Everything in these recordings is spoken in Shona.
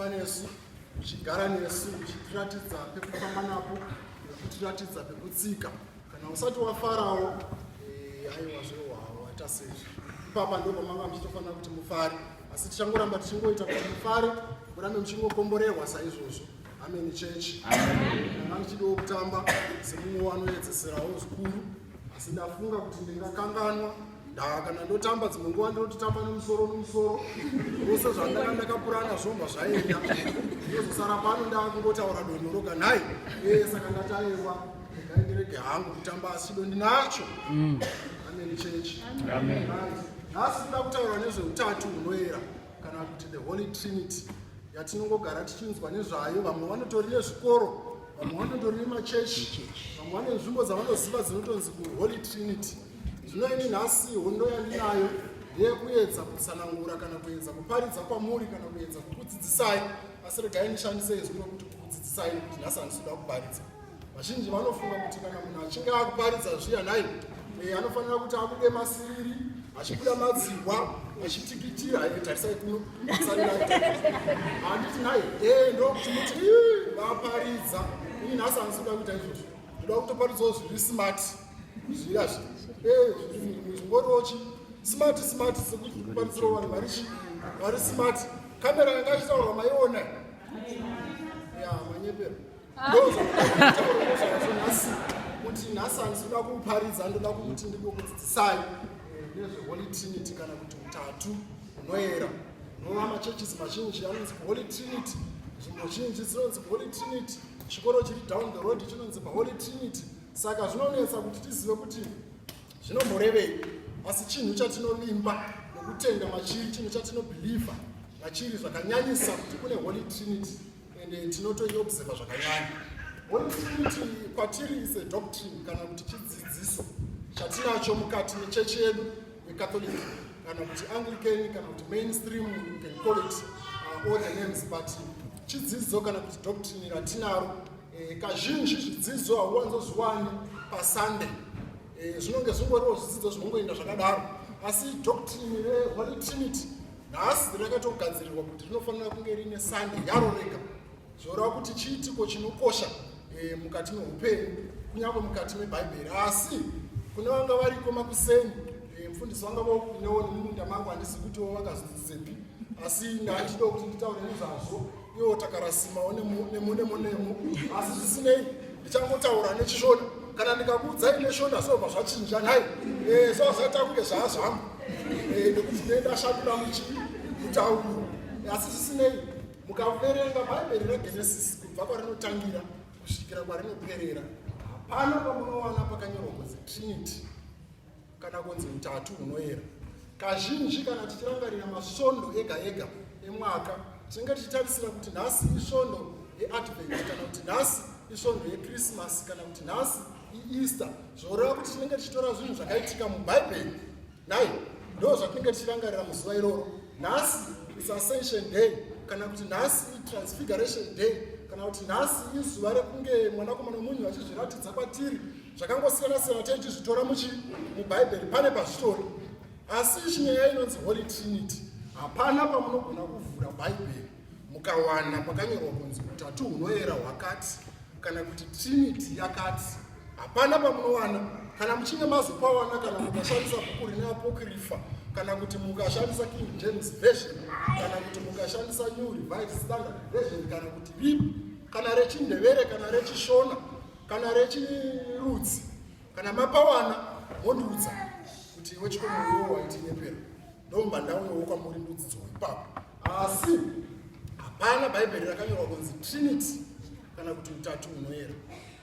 panesu uchigara nesu uchitiratidza pekufamba napo nekutiratidza pekutsika kana usati wafarawo eh, aiwa zvewawo aita sezvi ipapa ndopamanga muchitofanira kuti mufare asi tichangoramba tichingoita kuti mufare murambe muchingokomborerwa saizvozvo ameni chechi anga ndichidiwo kutamba semumwe wanoedzeserawo zvikuru asi ndafunga kuti ndingakanganwa ndaa kana ndotamba dzimwe nguva ndinototamba nemusoro nemusoro vose zvandaka ndakapurana zvomba zvaenda ndozosara pano ndava kungotaura donho roga nhai ee saka ndataewa ndaindirege hangu kutamba asi chido ndinacho mm. ameni chechi nhasi nda kutaura nezveutatu hunoera kana kuti the holy trinity yatinongogara tichinzwa nezvayo vamwe vanotori nezvikoro vamwe vanotori nemachechi vamwe vane nzvimbo dzavanoziva dzinotonzi kuholy trinity zvino ini nhasi hondo yandinayo ndeyekuedza kutsanangura kana kuedza kuparidza kwamuri kana kuedza kukudzidzisai asi regai ndishandise izwi rokuti kukudzidzisai nokuti nhasi handisi kuda kuparidza vazhinji vanofunga kuti kana munhu achinge akuparidza zviya nhai eh, anofanira kuti abude masiriri achibuda madzihwa achitikitira eh, tarisai kuno handiti nhai eh, ndokuti muti vaparidza ini nhasi andisuda kuita izvozvo ndoda kutoparidzawo zviri smart zviya zvingoriwochi smart smart sekuparisira vanhu vari chi vari smart kamera yanga ichitaurwa maiona ya manyepero kuti nhasi handisi kuda kuuparidza ndoda kukuti ndingokudzidzisai nezveholy trinity kana kuti utatu hunoera nova machurches mazhinji anonzi holy trinity nzvimbo zhinji dzinonzi holy trinity chikoro chiri down the road chinonzi holy trinity saka zvinonetsa kuti tizive kuti zvinomborevei asi chinhu chatinovimba nokutenda machiri chinhu chatinobhilivha machiri zvakanyanyisa kuti kune holy trinity ende tinotoiobserva zvakanyanya one thing kuti kwatiri is a doctrine kana kuti chidzidziso chatinacho mukati mechechi yedu yecatholic kana kuti anglican kana kuti mainstream you can call it uh, all the names but chidzidzo kana kuti doctrine ratinaro eh, kazhinji zvidzidzo hauwanzozviwani pasunday eh, zvinonge zvingoriwo zvidzidzo zvinongoenda zvakadaro asi doctrine reholy trinity nhasi rakatogadzirirwa kuti rinofanira kunge rine sande yaro rega zvoreva kuti chiitiko chinokosha e, mukati meupenyu kunyange mukati mebhaibheri asi kune vanga variko makuseni e, mfundisi vanga vakunewo nemumunda mangu handisi kutiwo vakazodzisepi asi ndandido kuti nditaure nezvazvo iwo takarasimawo nemunemunemu asi zvisinei ndichangotaura nechishona kana ndikakuudzai neshona sobva zvachinja nhai eh, so zvaita kunge zvaazvangu eh, nekuti nendashakuda muchi kutaurwa asi zvisinei mukaverenga bhaibheri regenesis kubva kwarinotangira kusvikira kwarinoperera hapana pamunowana pakanyorwa kunzi trinity kana kunzi utatu hunoyera. Kazhinji kana tichirangarira masvondo ega ega emwaka tinenge tichitarisira kuti nhasi isvondo yeadvent kana kuti nhasi isvondo yekrismas kana kuti nhasi ieaster zvoreva kuti tinenge tichitora zvinhu zvakaitika mubhaibheri nai ndo zvatinenge tichirangarira muzuva iroro nhasi isascension day kana kuti nhasi itransfiguration day kana kuti nhasi izuva rekunge mwanakomana wemunhu vachizviratidza kwatiri zvakangosiyana siyana taichizvitora muchi mubhaibheri pane pazvitori asi chinyaya inonzi holy trinity hapana pamunogona kuvhura bhaibheri mukawana pakanyorwa kunzi utatu hunoyera hwakati kana kuti trinity yakati hapana pamunowana kana muchinge mazopawana kana mukashandisa bhuku rine apokrifa kana kuti mukashandisa king james version kana kuti mukashandisa new revised standard version kana kuti ripi kana rechindevere kana rechishona kana rechirudzi kana mapawana mondiudza kuti iwe chikomoiwo waitinyepera ndomba ndauyawo kwamuri ndodzidzwa ipapo asi hapana bhaibheri rakanyorwa kunzi trinity kana kuti utatu unoyera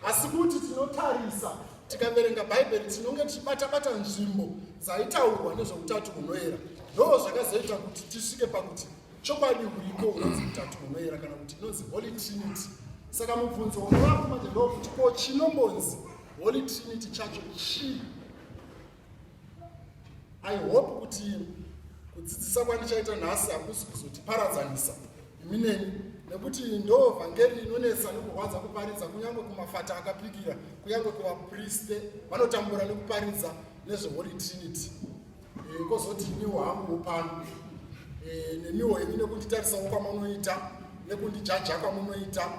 asi kuti tinotarisa tikaverenga bhaibheri tinonge tichibatabata nzvimbo dzaitaurwa nezveutatu hunoera ndoo zvakazoita kuti tisvike pakuti Chokwadi huriko hunonzi mutatu munoera kana kuti inonzi Holy Trinity. Saka mubvunzo unovapo manje ndokuti ko chinombonzi Holy Trinity chacho chii? I hope kuti kudzidzisa kwandichaita nhasi hakusi kuzotiparadzanisa imi neni nekuti ndo vhangeri inonetsa nekurwadza kuparidza kunyange kumafata akapikira kunyange kuvapriste vanotambura nekuparidza nezveholy trinity Eh, kozoti iniwo hangu pano eh, nemiwo ini nekunditarisawo kwamunoita nekundijaja kwamunoita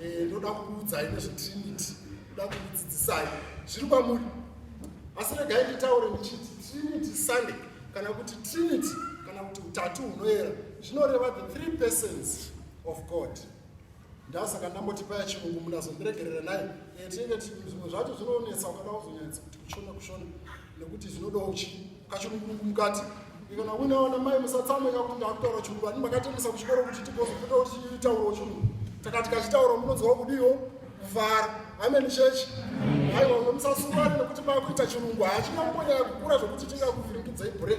eh, ndoda kukuudzai nezvetrinity ndoda kukudzidzisai zviri kwamuri asi regai nditaure ndichiti trinity sunday kana kuti trinity kana kuti utatu hunoyera zvinoreva the three persons of god ndasaka ndamboti paya chirungu munazondiregerera naye eh, tinenge zvimwe zvacho zvinonetsa ukada kuzonyanyisa kuti kushona kushona nekuti zvinodawo chi kachirungurungu mukati ikana unaona mai musatsamweka kuti ndakutaura chirungu ani makatendesa kuchikoro kuti tigozopota kuti chitauro chirungu takati kachitauro munonzwa kudiwo kuvhara ameni chechi aiwa musasungane nekuti makuita chirungu hachina kumbonyaya kukura zvekuti tingakuvhiringidzai bure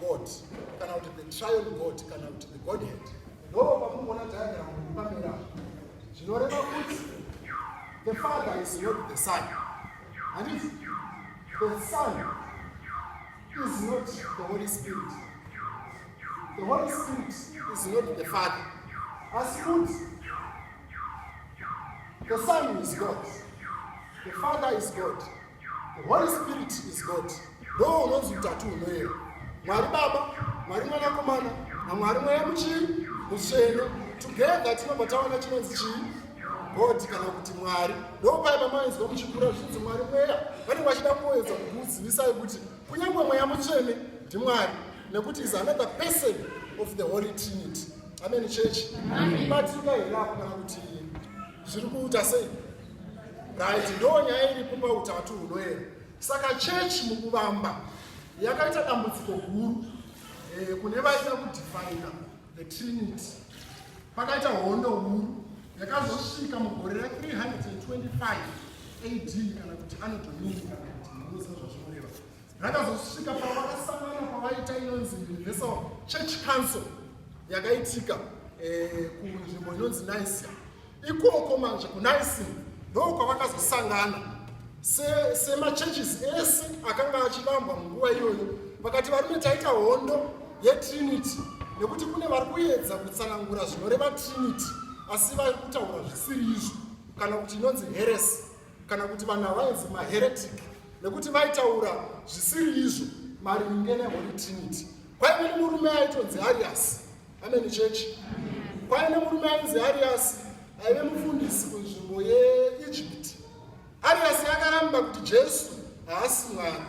God kana kuti the trial God kana kuti the Godhead. Ndoo pamunoona diagram iri pamera zvinoreva kuti the father is not the son. Handiti the son is not the Holy Spirit. The Holy Spirit is not the father. As good, the son is God. The father is God. Holy Spirit is God. Ndoo unonzi utatu hunoyera. Mwari Baba, Mwari Mwanakomana, naMwari Mweya Muchii, Mutsvene. Together tinobva tawana chinonzi chii? God kana kuti Mwari. Ndoo paya pamainzwa muchikura zvichinzi Mwari Mweya. Vanenge vachida kuedza kukuzivisai kuti kunyange Mweya Mutsvene ndiMwari nekuti is another person of the Holy Trinity. Amen, church. Amen. But you know, zviri kuita sei right ndo nyaya iripo pautatu hunoera saka chechi mukuvamba yakaita dambudziko guru eh, kune vaida kudefina the trinity pakaita hondo huru yakazosvika mugore ra 325 ad kana kuti anodomini kana kuti munoziva zvazvinoreva rakazosvika pavakasangana pavaita inonzi universal church council yakaitika eh, kunzvimbo inonzi nicia ikoko manje kunicia ndoo kwavakazosangana semachurches ese akanga achivambwa munguva iyoyo vakati varume taita hondo yetrinity nekuti kune vari kuedza kutsanangura zvinoreva trinity asi vari kutaura zvisiri izvo kana kuti inonzi heresi kana kuti vana vainzi maheretic nekuti vaitaura zvisiri izvo maringe neholy trinity kwaive nemurume aitonzi arias ameni chechi kwaive nemurume ainzi arias aive mufundisi kunzvimbo yeegypt arias akaramba kuti jesu haasi mwari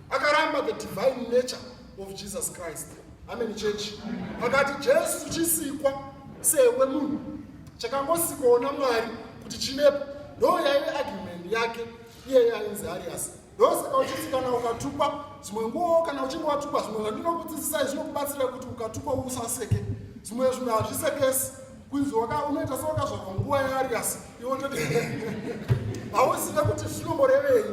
akaramba the divine nature of Jesus Christ. Amen church. Pakati Jesu chisikwa sewe munhu chakangosikoona Mwari kuti chivepo ndo yaive argument yake iye yainzi Arias. Ndosaka uchiti kana ukatukwa zvimwe nguwo kana uchinge watukwa zvimwe zvandinokudzidzisai zvinokubatsira kuti ukatukwa usaseke zvimwe zvinhu hazvisekesi kunzi waka unoita sewakazvarwa nguva yaariasi iwo toti hauzive kuti zvinomborevei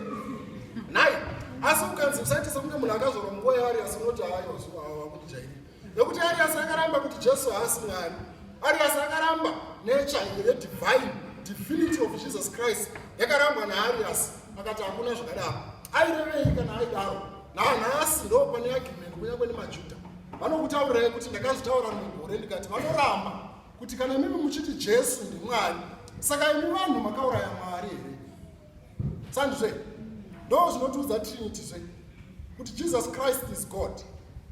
nhai asi ukanzi usaite sekunge munhu akazvarwa munguva yaariasi unoti haaiwakudijairi nekuti ariasi akaramba kuti jesu haasi mwari ariasi akaramba nature yedivine divinity of jesus christ yakarambwa naariasi akati hakuna zvakadaro aireveyi kana aidaro nanhasi ndo pane argument kunyange nemajuda vanokutaurirai kuti ndakazvitaura mugore ndikati vanoramba kuti kana mimi muchiti jesu ndimwari saka imi vanhu makauraya mwari here sandizve ndo zvinotiudza trinity zve kuti jesus christ is god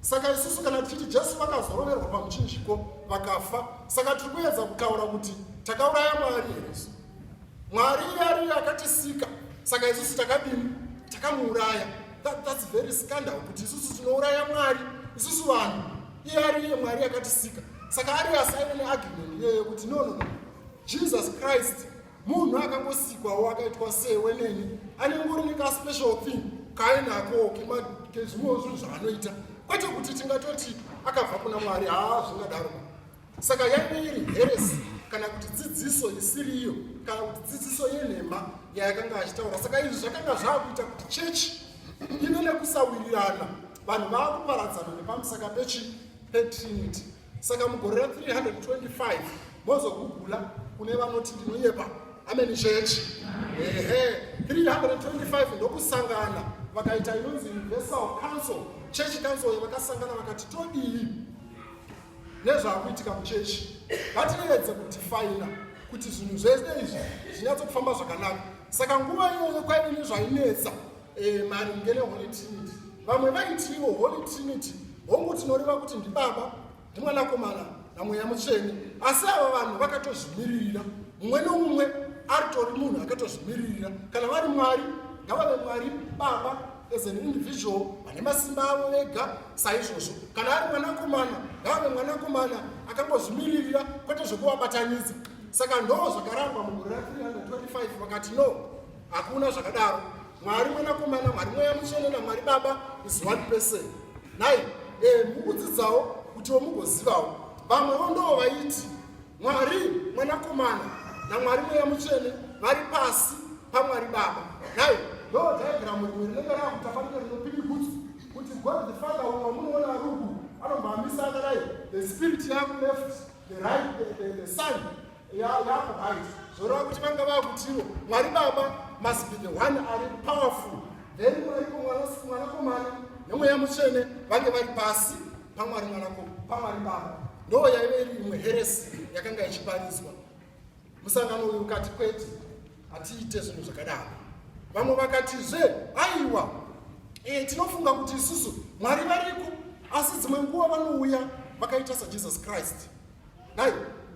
saka isusu kana tichiti jesu vakazoroverwa pamuchinjiko vakafa saka tiri kuedza kutaura kuti takauraya mwari here isu Mwari ariye akatisika, saka isusu takadini? Takamuuraya. That, that's very scandal kuti isusu tinouraya Mwari, isusu vanhu. Iye ariye Mwari akatisika, saka ariye asaine neagreement iyeyo kuti no, no, no. Jesus Christ munhu akangosikwawo akaitwa sewe neni ane ngori nekaspecial thing kainako kezvimwewo zvinhu zvaanoita kwete kuti tingatoti akabva kuna mwari haa zvingadaro saka yange iri heresi kana kuti dzidziso isiriyo kana kuti dzidziso yenhema yayakanga achitaura saka izvi zvakanga zvaakuita kuti chechi ive nekusawirirana vanhu vaakuparadzana nepamusaka pechi petrinity saka mugore ra 325 mozogugula kune vanoti ndinoyepa ameni chechi ehe 325 ndokusangana vakaita inonzi universal council chechi council yavakasangana vakati todii nezvaakuitika muchechi ngatirevedze kudifaina kuti zvinhu zvese izvi zvinyatsokufamba zvakanaka saka nguva iyoyo kwaive nezvainetsa eh, maringe neholy trinity vamwe vaitiwo holy trinity hongu tinoreva kuti ndibaba ndimwanakomana namweya mutsvene asi ava vanhu vakatozvimiririra mumwe nomumwe aritori munhu akatozvimiririra kana vari mwari ngavave mwari baba as an individual vane masimba avo vega saizvozvo kana ari mwanakomana ngaave mwanakomana akangozvimiririra kwete zvekuvabatanidza saka ndo zvakarangwa mugore ra 325 vakati no hakuna zvakadaro mwari mwanakomana mwari mweya mutsvene namwari baba is one person nai e, mukudzidzawo kutiwo mugozivawo vamwewo ndoo vaiti Mwari mwanakomana naMwari mweya mutsvene vari pasi paMwari Baba. Nhai ndoo dhayagiramu rimwe rinenge raakutafanira rinopiri kuti kuti God the Father uyo wamunoona ruku anomboamisa akadai the spirit yaku left the right the, the, the sun yaku right zvoreva kuti vanga vakutiwo Mwari Baba must be the one ari powerful then Mwari mwanakomana nemweya mutsvene vange vari pasi pamwari mwanakombo pamwari baba ndo yaive iri imwe heresi yakanga ichipariswa musangano uyu ukati kwete hatiite zvinhu zvakadaro vamwe vakatizve aiwa e, tinofunga kuti isusu mwari variko asi dzimwe nguva vanouya vakaita sajesus christ Nhai,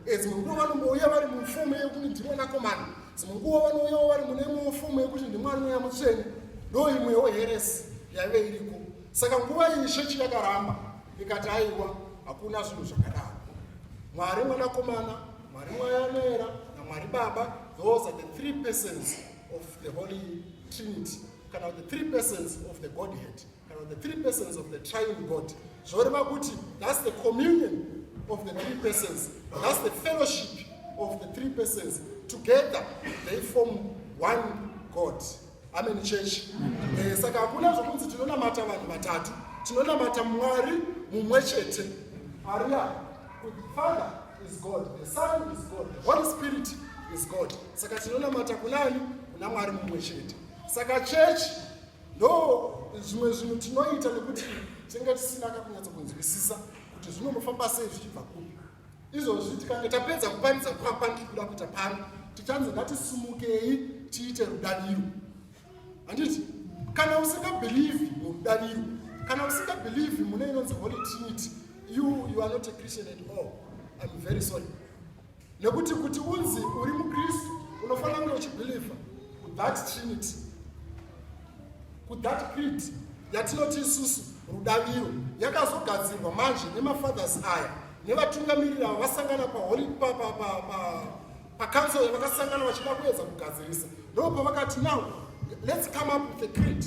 eh, dzimwe nguva vanouya vari mufomu yekuti ndiri mwanakomana, dzimwe nguva vanouyawo vari mune imwewo fomu yekuti ndi mwari mweya mutsvene, ndo imwewo heresi yaive iriko. Saka nguva iyi shechi yakaramba ikati aiwa hakuna zvinhu zvakadaro. Mwari mwanakomana, Mwari mweya anoera naMwari Baba, those are the three persons of the Holy Trinity, kana the three persons of the Godhead. Kana the three persons of the triune God zvoreva kuti that's the communion of the three persons that's the fellowship of the three persons together they form one God amen church eh, saka hakuna zvokunzi tinonamata vanhu vatatu tinonamata mwari mumwe chete aria father is god the son is god the holy spirit is god saka tinonamata kunani kuna mwari mumwe chete saka chechi no zvimwe zvinhu tinoita nekuti tinenge tisina kakunyatsa kunzwisisa kuti zvinonofamba sei zvichibva kupi izvozvi tikange tapedza kuparidza kwakwa ndikuda kuita pano tichanzi ngatisumukei tiite rudaviro handiti kana usingabhilivhi murudaviro kana usingabhilivhi mune inonzi holy trinity you you are not a christian at all im very sorry nekuti kuti unzi uri mukristu unofanira kunge uchibhilivha kuthat trinity kuthat creed yatinoti isusu rudaviro yakazogadzirwa manje nemafathers aya nevatungamiriri avo vasangana paholi pacouncil yavakasangana vachida kuedza kugadzirisa ndo pavakati now let's come up with a creed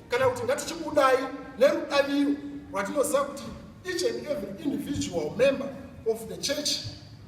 kana kuti ngatichibudai nerudaviro rwatinoziva kuti Each and every individual member of the church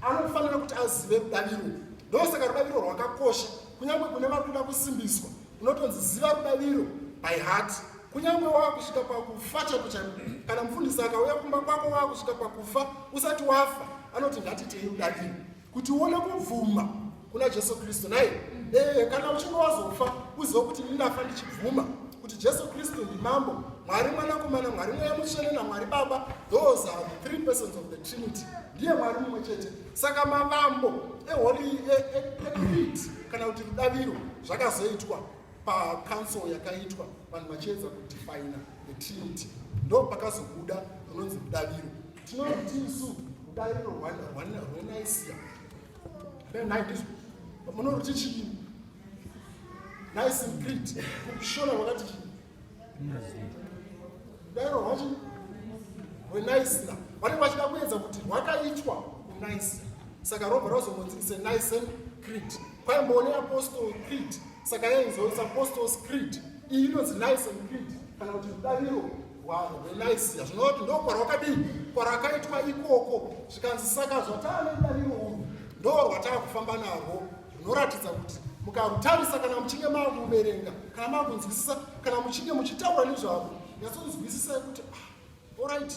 anofanira kuti azive rudaviro ndosaka rudaviro rwakakosha kunyange kune vari kuda kusimbiswa unotonzi ziva rudaviro by heart kunyange wava kusvika pakufa chako chako kana mufundisi akauya kumba kwako wava kusvika pakufa usati wafa anoti ngatitei rudaviro kuti uone kubvuma kuna jesu kristu nai ee kana uchinge wazofa uziva kuti ini ndafa ndichibvuma kuti jesu kristu ndimambo mwari mwanakomana mwari mweya mutsvene namwari baba those are the three persons of the trinity ndiye mwari mumwe chete saka mavambo eholi eeeeeet kana kuti rudaviro zvakazoitwa pacouncil yakaitwa vanhu vachiedza kudefina the trinity ndo pakazobuda runonzi rudaviro Tinoda kuti isu kudai rwanaisiya naizvo munoroti chii nice and great kushona wakati chii dairo rwachi rwenaisira vanenge vachida kuedza kuti rwakaitwa unaisira saka robva razomonzi ise nice and great Bible ne Apostle Creed saka yainzoisa Apostles Creed iyi inonzi Nice and Creed kana kuti rudariro rwavo rweNicea zvinova kuti ndoo kwarwakadii kwarakaitwa ikoko zvikanzi saka zvataa nedariro urwu ndoo rwataa kufamba narwo rwunoratidza kuti mukarutarisa kana muchinge makuverenga kana makunzwisisa kana muchinge muchitaura nezvavo nyatsonzwisisai kuti ah, Alright,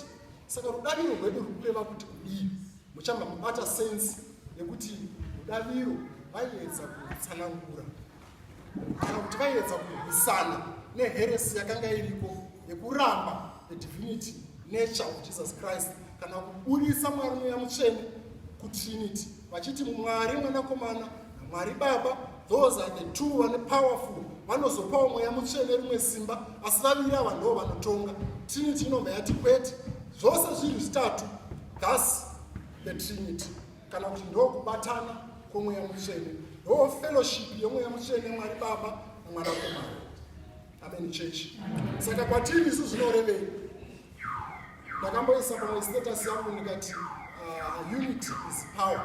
saka rudaviro rwedu rwukureva kuti kudii? Muchamba mubata sense yekuti rudaviro vaiedza kutsanangura kana kuti vaiedza kurwisana neheresi yakanga iriko yekuramba the divinity nature of Jesus Christ kana kuburitsa Mwari Mweya Mutsvene kutrinity. vachiti mwari mwanakomana namwari baba those are the two vane powerful vanozopawo mweya mutsvene rimwe simba asi vaviri ava ndoo vanotonga trinity inobva yati kwete zvose zviri zvitatu thus the trinity kana kuti ndoo kubatana kwomweya mutsvene ndoo fellowship yemweya mutsvene mwari baba namwanakomana Amen church. Saka kwatiri isu zvinorevei? Ndakamboisa pamwe status yangu ndikati uh, unity is power.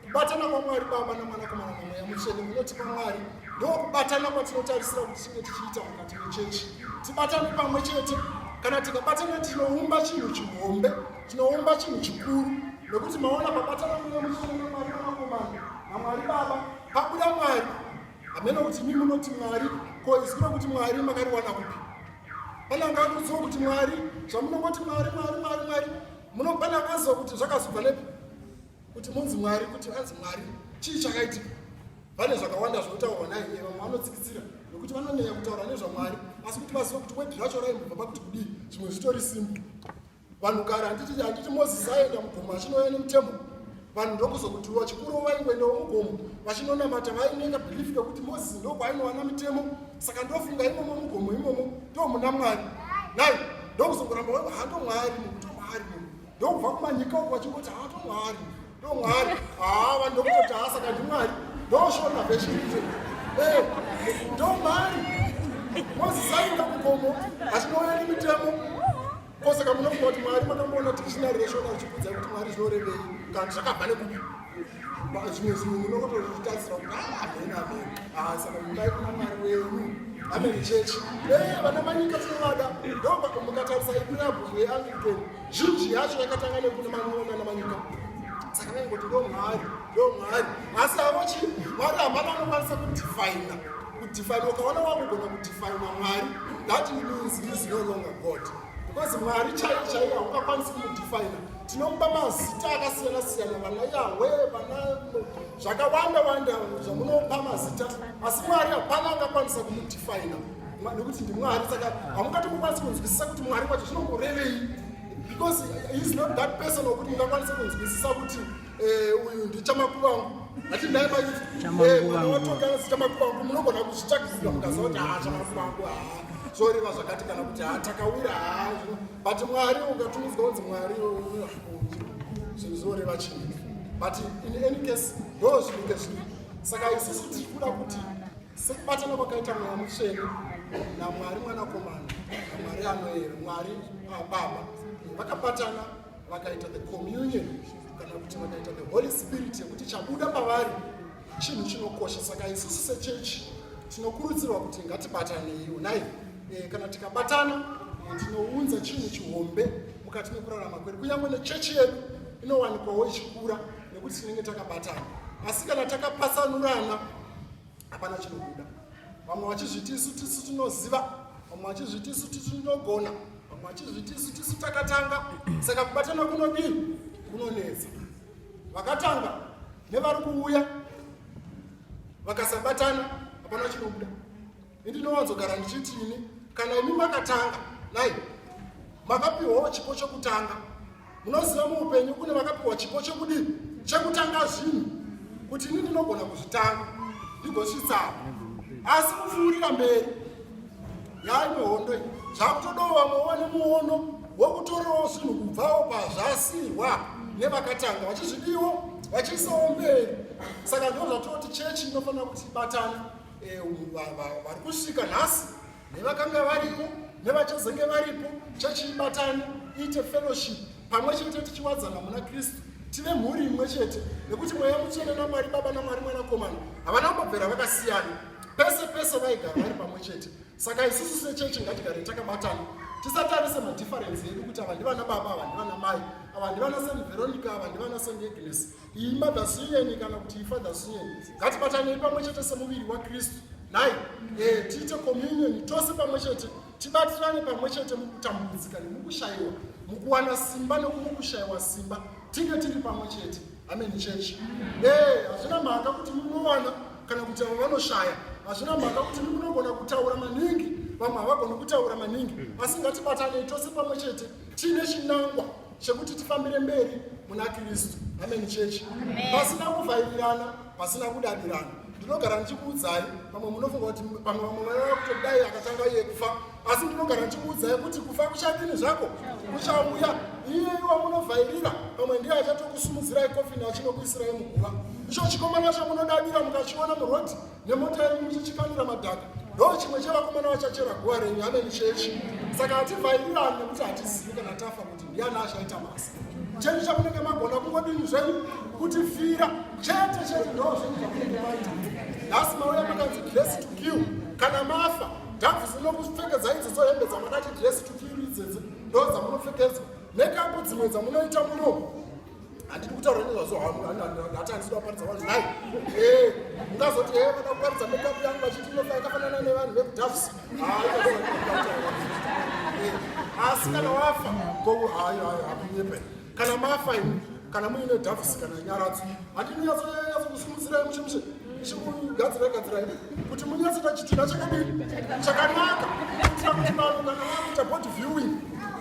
Kubatana kwaMwari Baba naMwanakomana naMweya Mutsvene munoti kwaMwari ndokubatana kwatinotarisira kuti tinge tichiita mukati mechechi tibatane pamwe chete kana tikabatana tinoumba chinhu chihombe tinoumba chinhu chikuru nokuti maona pabatana kunemuchene namwari vanakomana namwari baba pabuda mwari hameno kuti mi munoti mwari ko isu tino kuti mwari makariwana kupi pane angakuziva kuti mwari zvamunongoti mwari mwari mwari mwari munopane akaziva kuti zvakazobva nepi kuti munzi mwari kuti anzi mwari chii chakaitika vane zvakawanda zvinotaurwa naye vamwe vanotsikitsira nokuti vanonyanya kutaura nezvamwari asi kuti vazive kuti wedhi racho raimbobva pakuti kudii zvimwe zvitori simbi vanhu kare handiti handiti mozisi aenda mugomo achinoya nemutemo vanhu ndokuzokutiwa chikuru vaingoendawo mugomo vachinonamata vainenga bhilifi kekuti mozisi ndokwaainowana mitemo saka ndofunga imomo mugomo imomo ndomuna mwari nai ndokuzongoramba waiva hato mwari mukuto mwari ndokubva kumanyika uku vachingoti hato mwari ndomwari haa vanhu ndokuti haasa kandi mwari ndoshona vechite eh, ndomari mozisanyuka kukomo achinoona nemitemo kosaka munofunga kuti mwari makamboona dictionary reshona richikudza kuti mwari zvinorevei kandi zvakabva nekupi zvimwe zvinhu munokotozvitarisira kuti amen ah, amen ah, saka mudai kuna mwari wenyu amen church eh, vana manyika tinovada ndomukatarisa ipirabhuku yeanglican zhinji yacho yakatanga nekune man'ona namanyika saka vaingoti ndo mwari ndo mwari asi avo chi mwari hamana anokwanisa kudifaina kudifaina ukaona wakugona kudifaina mwari that means is no longer god because mwari chaiyo chaiyo haungakwanisi kumudifaina tinomupa mazita akasiyana siyana vana yahwe vana zvakawanda wanda zvamunopa mazita asi mwari hapana angakwanisa kumudifaina nokuti ndimwari saka hamungatomukwanisi kunzwisisa kuti mwari wacho zvinomborevei because heis not that person wokuti mungakwanise kunzwisisa kuti eh, uyu ndichamakuvangu ati ndai maitwaawatonganisi eh, chamakuvangu munogona kuzvitsvakisira mukaziva kuti haa chamakuvangu haa zvoreva zvakati kana kuti haa takawira haa but mwari ungatumidzwa kunzi mwari zvinhu zvoreva chii but in any case ndoo zvinenge zvii saka isusu tiri kuda kuti sekubatana kwakaita mweya mutsvene namwari mwanakomana namwari anoyera mwari ah, baba vakabatana vakaita the communion kana kuti vakaita the holy spirit yekuti chabuda pavari chinhu chinokosha saka isusu sechechi tinokurudzirwa kuti ngatibatanei unai eh, kana tikabatana eh, tinounza chinhu chihombe mukati mekurarama kwedu kunyange nechechi yedu inowanikwawo ichikura nekuti tinenge takabatana asi kana takapatsanurana hapana chinobuda vamwe vachizviti isu tisu tinoziva vamwe vachizviti isu tisu tinogona vamwe vachizviti isu tisu takatanga saka kubatana kunodii kunonetsa vakatanga nevari kuuya vakasabatana hapana chinobuda ndinowanzogara ndichiti ini kana imi makatanga nai makapiwawo chipo chekutanga munoziva muupenyu kune vakapiwa chipo chekudii chekutanga zvinhu kuti ini ndinogona kuzvitanga ndigosvitsaa asi kupfuurira mberi yaimwe hondo iyi zvakutodawo vamwe wane muono wokutorawo zvinhu kubvawo pazvasirwa nevakatanga vachizvidiwo vachiisawo mberi saka ndozvatoti chechi inofanira kuti ibatana e, vari kusvika nhasi nevakanga varipo nevachazenge varipo chechiibatani iite fellowship pamwe chete tichiwadzana muna kristu tive mhuri imwe chete nekuti mweya mutsvene namwari baba namwari mwanakomana havana kumbobvera vakasiyana pese pese vaigara vari pamwe chete saka isusu sechechi ngatigare takabatana tisatarise madhifarensi edu kuti ava ndivana baba ava ndivana mai ava ndivana san veronica ava ndivana san agnes iyi mother siyeni kana kuti ifather siyeni ngatibatanei pamwe chete semuviri wakristu nhai e, tiite communioni tose pamwe chete tibatirane pamwe chete mukutambudzika nemukushayiwa mukuwana simba nekumukushayiwa simba tinge tiri pamwe chete amen church e, hazvina mhaka kuti munowana kana kuti avo vanoshaya hazvina mhaka kuti munogona kutaura maningi vamwe havagoni kutaura maningi asi ngatibatanei tose pamwe chete tiine chinangwa chekuti tifambire mberi muna kristu amen church pasina kuvhairirana pasina kudadirana ndinogara ndichikuudzai pamwe munofunga kuti pamwe vamwe vaiva kuti dai akatanga iye kufa asi ndinogara ndichikuudzai kuti kufa kuchadini zvako kuchauya iyeiwa munovhairira pamwe ndiye achatokusumudzirai kofini achinokuisirai muguva icho chikomana chamunodadira mukachiona murodi nemota yedu muchichikanira madhaka ndoo chimwe chevakomana vachachera guva renyu hameni chechi saka hativhairirani nekuti hatizivi kana tafa kuti ndiani achaita masa chenyu chamunenge magona kungodini zvenyu kuti fira chete chete ndoo zvenyu zvamunenge maita nhasi mauya makanzi dress to kill kana mafa dhavu zinokupfekedza idzodzo hembe dzamakati dress to kill idzedze ndoo dzamunopfekedzwa nekapo dzimwe dzamunoita munomo handidi kutaura nezvazvo hamuhatanisida kuparidza vanhu nai eh, ungazoti e vada kuparidza mekapu yangu vachiti inofa yakafanana nevanhu vekudafs eh, asi kana wafa ko hayo hayo hakunyepe kana mafa imi kana muine dafs kana nyaradzo handidi nyatsokusimudzirai muchimushe ichikugadzira gadzira imi kuti munyatsota chitunha chakadini chakanaka kuitira kuti vanhu kana vakuita body viewing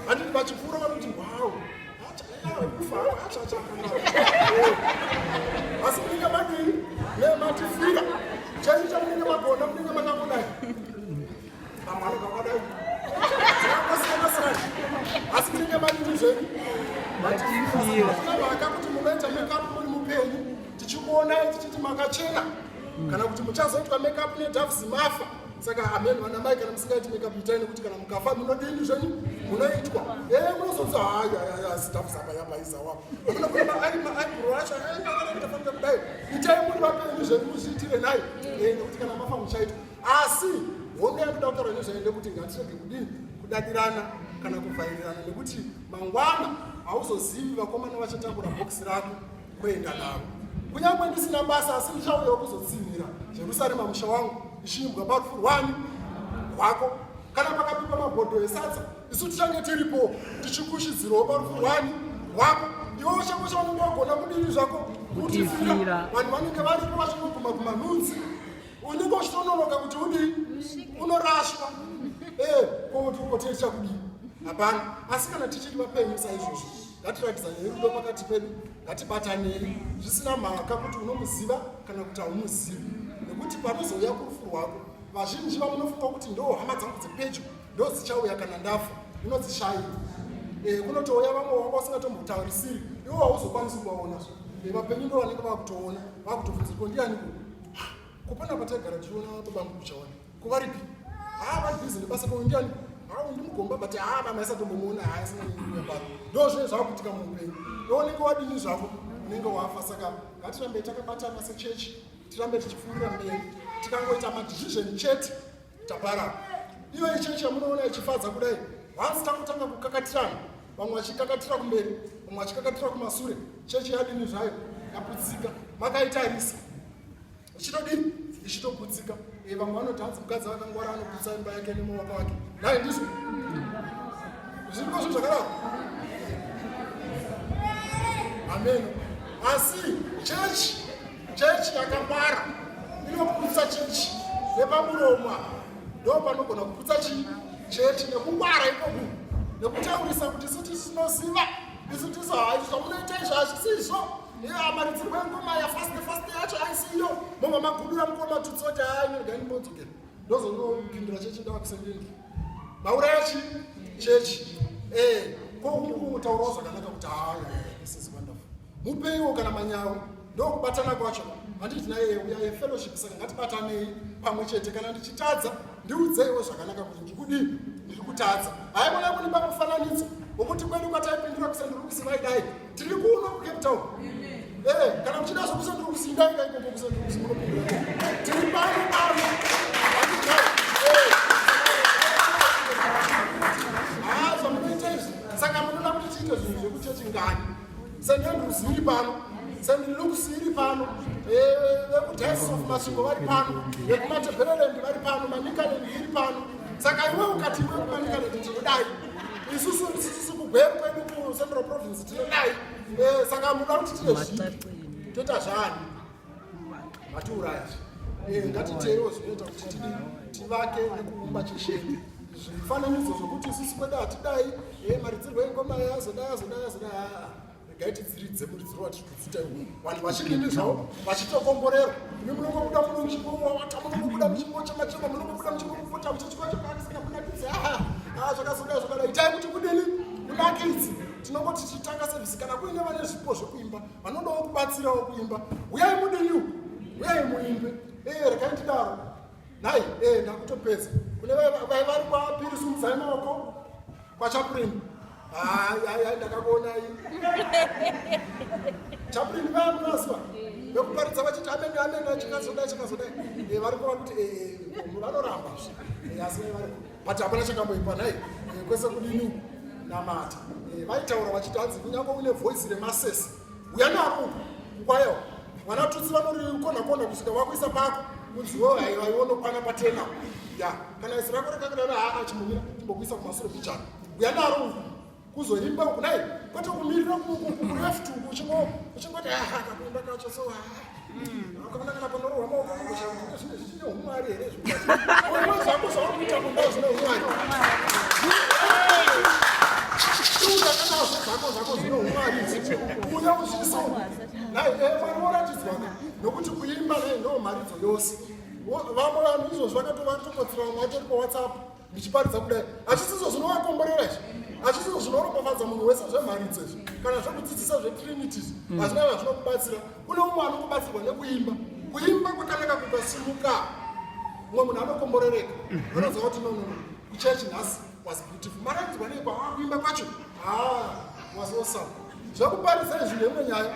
handidi vachipfuura vanoti wow asi munenge madii nematifira chaicho chamunenge magona munenge makakonai vamwe vanenge vakadai akasiyana sana asi munenge madii zvenyu matifiravaka kuti munoita mekapu muri mupenyu tichikuonai tichiti makachena kana kuti muchazoitwa mekapu nedafu zimafa saka ameni vanamai kana musingaiti makeup itai nekuti kana mukafa munodini zvenyu munoitwa e eh, munozonza hayayayasitafusabayabaizawa amuna kuema ari maaibro acho aaaafamba kudai itai muri vapenyu zvenyu muzviitire naye eh, nekuti kana mafa muchaitwa asi honga yakuda kutaura nezvaende kuti ngatirege kudini kudadirana kana kuvhairirana nekuti mangwana hauzozivi vakomana vachatambura bhokisi rako kuenda navo kunyange ndisina basa asi ndichauyawo kuzotsinhira jerusarema musha wangu ichiimbwa parufu rwani rwako kana pakapikwa mabhodho esadza isu tichange tiripo tichikushidzirawo parufu rwani rwako iwe uchange chaunenge wagona kudini zvako kutifira vanhu vanenge varipo vachingoguma kumanhunzi unenge uchitononoka kuti udii unorashwa ee eh, kouti ukotei chakudii hapana asi kana tichiri vapenyu saizvozvo ngatiratidzanei rudo pakati pedu ngatibatanei zvisina mhaka kuti unomuziva kana kuti haumuzivi nekuti panozouya kurufu rwako vazhinji vamunofunga kuti ndo hama dzangu dzepedyo ndodzichauya kana ndafa unodzishaya eh, kunotouya vamwe wanga usingatomutaurisiri iwo hauzokwanisi kuvaona eh, vapenyu ndo vanenge vakutoona vakutobvunzirwa ndiani kupona pataigara tichiona babangu kuchaona Kuvaripi? Ah, vari busy nebasa ko ndiani? Ah, ndimugomba but ah, vana isa tombomuona ah, isina nyaya pano. Ndo zve zvakuitika muupenyu. Ndo unenge wadini zvako? Unenge wafa saka ngatirambe takabatana sechechi. Tirambe tichifurira mberi. Tikangoita madecision chete tapara. Iyo ichechi yamunoona ichifadza kudai. Once takutanga kukakatirana, vamwe vachikakatira kumberi, vamwe vachikakatira kumasure, chechi yadini zvayo yaputsika. Makaitarisa. ichitodii ichitoputsika eh, vamwe vanoti hanzi mukadzi vakangwara anoputsa imba yake nemawaka wake nai ndizvo zvirikosvo zvakadaro amen asi chechi chechi yakangwara inoputsa chechi nepamuromwa ndo panogona kuputsa chii chechi nekungwara ikoku nekutaurisa kuti isu tisinoziva isu tisu hai zvamunoita izvo hazvisizvo amaridzirwa ngoma yafast fast yacho aisiyo mobva magudura mukoma tutsoti ainoigani mbodzoke ndozongopindura chechi ndavakusendini mauraya chi chechi e koutaurawo zvakanaka kuti haaiiwonderful mupeiwo kana manyawi ndokubatana kwacho handiti naye uyaye fellowship saka ngatibatanei pamwe chete kana ndichitadza ndiudzeiwo zvakanaka kuti ndikudii ndiri kutadza haikona kunipa mufananidzo wokuti kwedu kwataipindura kusandiri kusivai dai tiri kuno kucape town ee eh, kana muchida zvokusandiri kusindai kaikombo kusandiri kusimunopindura tiri pano pano eh. haa zvamunoita izvi saka munoda kuti tiite zvinhu zvekuchechi ngani St Andrews iri pano St Luke's iri pano vekudiocese of Masvingo vari pano vekuMatabeleland vari pano Manicaland iri pano saka iwe ukati iwe kuManicaland tinodai isusu isusu kugweru kwedu kuCentral Province tinodai eh, saka muda kuti tine zvii toita zvani Matiuraya. Eh, ngatiteerewo zvinoita kuti tidi tivake nekuumba chisheni. Zvifananidzo zvokuti sisi kwedu hatidai, eh, maridzirwo engoma yazodai yazodai yazodai haa. Regai tidziridze muridziro watiri kudzita iwu. Vanhu vachikindi zvavo vachitokomborerwa. Imi munongobuda muno muchimbo wawata, munongobuda muchimbo chamachema, munongobuda muchimbo kupota muchichikwa chakakisika kunakidzi. Haa, haa zvakazodai zvakadai. Itai kuti kudini? Kunakidzi. Tinongoti tichitanga sevisi kana kuine vane zvipo zvekuimba. vanodawo kubatsirawo kuimba uyai mudiniu uyai muimbe ee eh, rekai tidaro nhai ee eh, ndakutopedza kune vari kwapiri sumudzai maoko kwachapurini hayi ndakakuonai chapurini vayamunaziva vekuparidza vachiti amene amene achikazodai chikazodai eh, vari kuva kuti vanoramba asi vari but hapana chakamboipa nhai eh, kwese kudini namata eh, vaitaura vachiti hanzi kunyange une voice remasese uya nako kwayo mwana tutsi vanorikona kona kusvika vakuisa pako kunzi wo haivaionokwana patena ya kana isi rako rakakadana haa chimbomira chimbokuisa kumasure kuchana uya naro kuzoimba uku dai kwete kumirira kureft uku uchingoti aha kakuimba kacho so akaona kana panorohwa maoko zvine zvichine umwari here zvako zvawakuita kumba zvine umwari zvako zvako zvine umwari uya uzviso nai mwari woratidzwaka nokuti kuimba nei ndo mharidzo yose vamwe vanhu izvozvo vakatovatopotserwa mwatori pawhatsapp ndichiparidza kudai hachisizo zvinovakomborera izvi hachisizo zvinoropafadza munhu wese zvemharidzo izvi kana zvekudzidzisa zvetrinities mm. hazvina mm. vazvinokubatsira kune umwe anokubatsirwa nekuimba kuimba kwakanaka kukasimuka umwe munhu anokomborereka mhm. anoziva kuti nono kuchechi nhasi was beautiful maraidzwa nei kwaakuimba kwacho ha ah, was awesome zvekuparidza izvi ndeimwe nyaya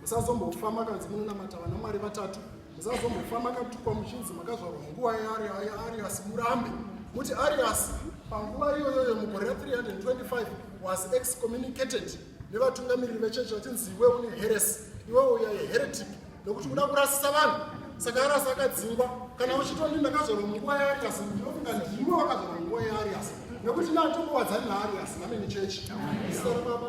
musazombofa makanzi munonamata vana mwari vatatu musazombofa makatukwa muchinzi makazvarwa munguva yaariasi murambe muti ariasi panguva iyoyoyo mugore ra 325 was excommunicated nevatungamiriri vechechi vachinzi iwe une heresi iwe uya yeheretic nokuti uda kurasisa vanhu saka arasi akadzingwa kana uchitoni ndakazvarwa munguva yaariasi ndinofunga ndimo vakazvarwa munguva yaariasi nekuti natombokwadzani naariasi namene chechi isarababa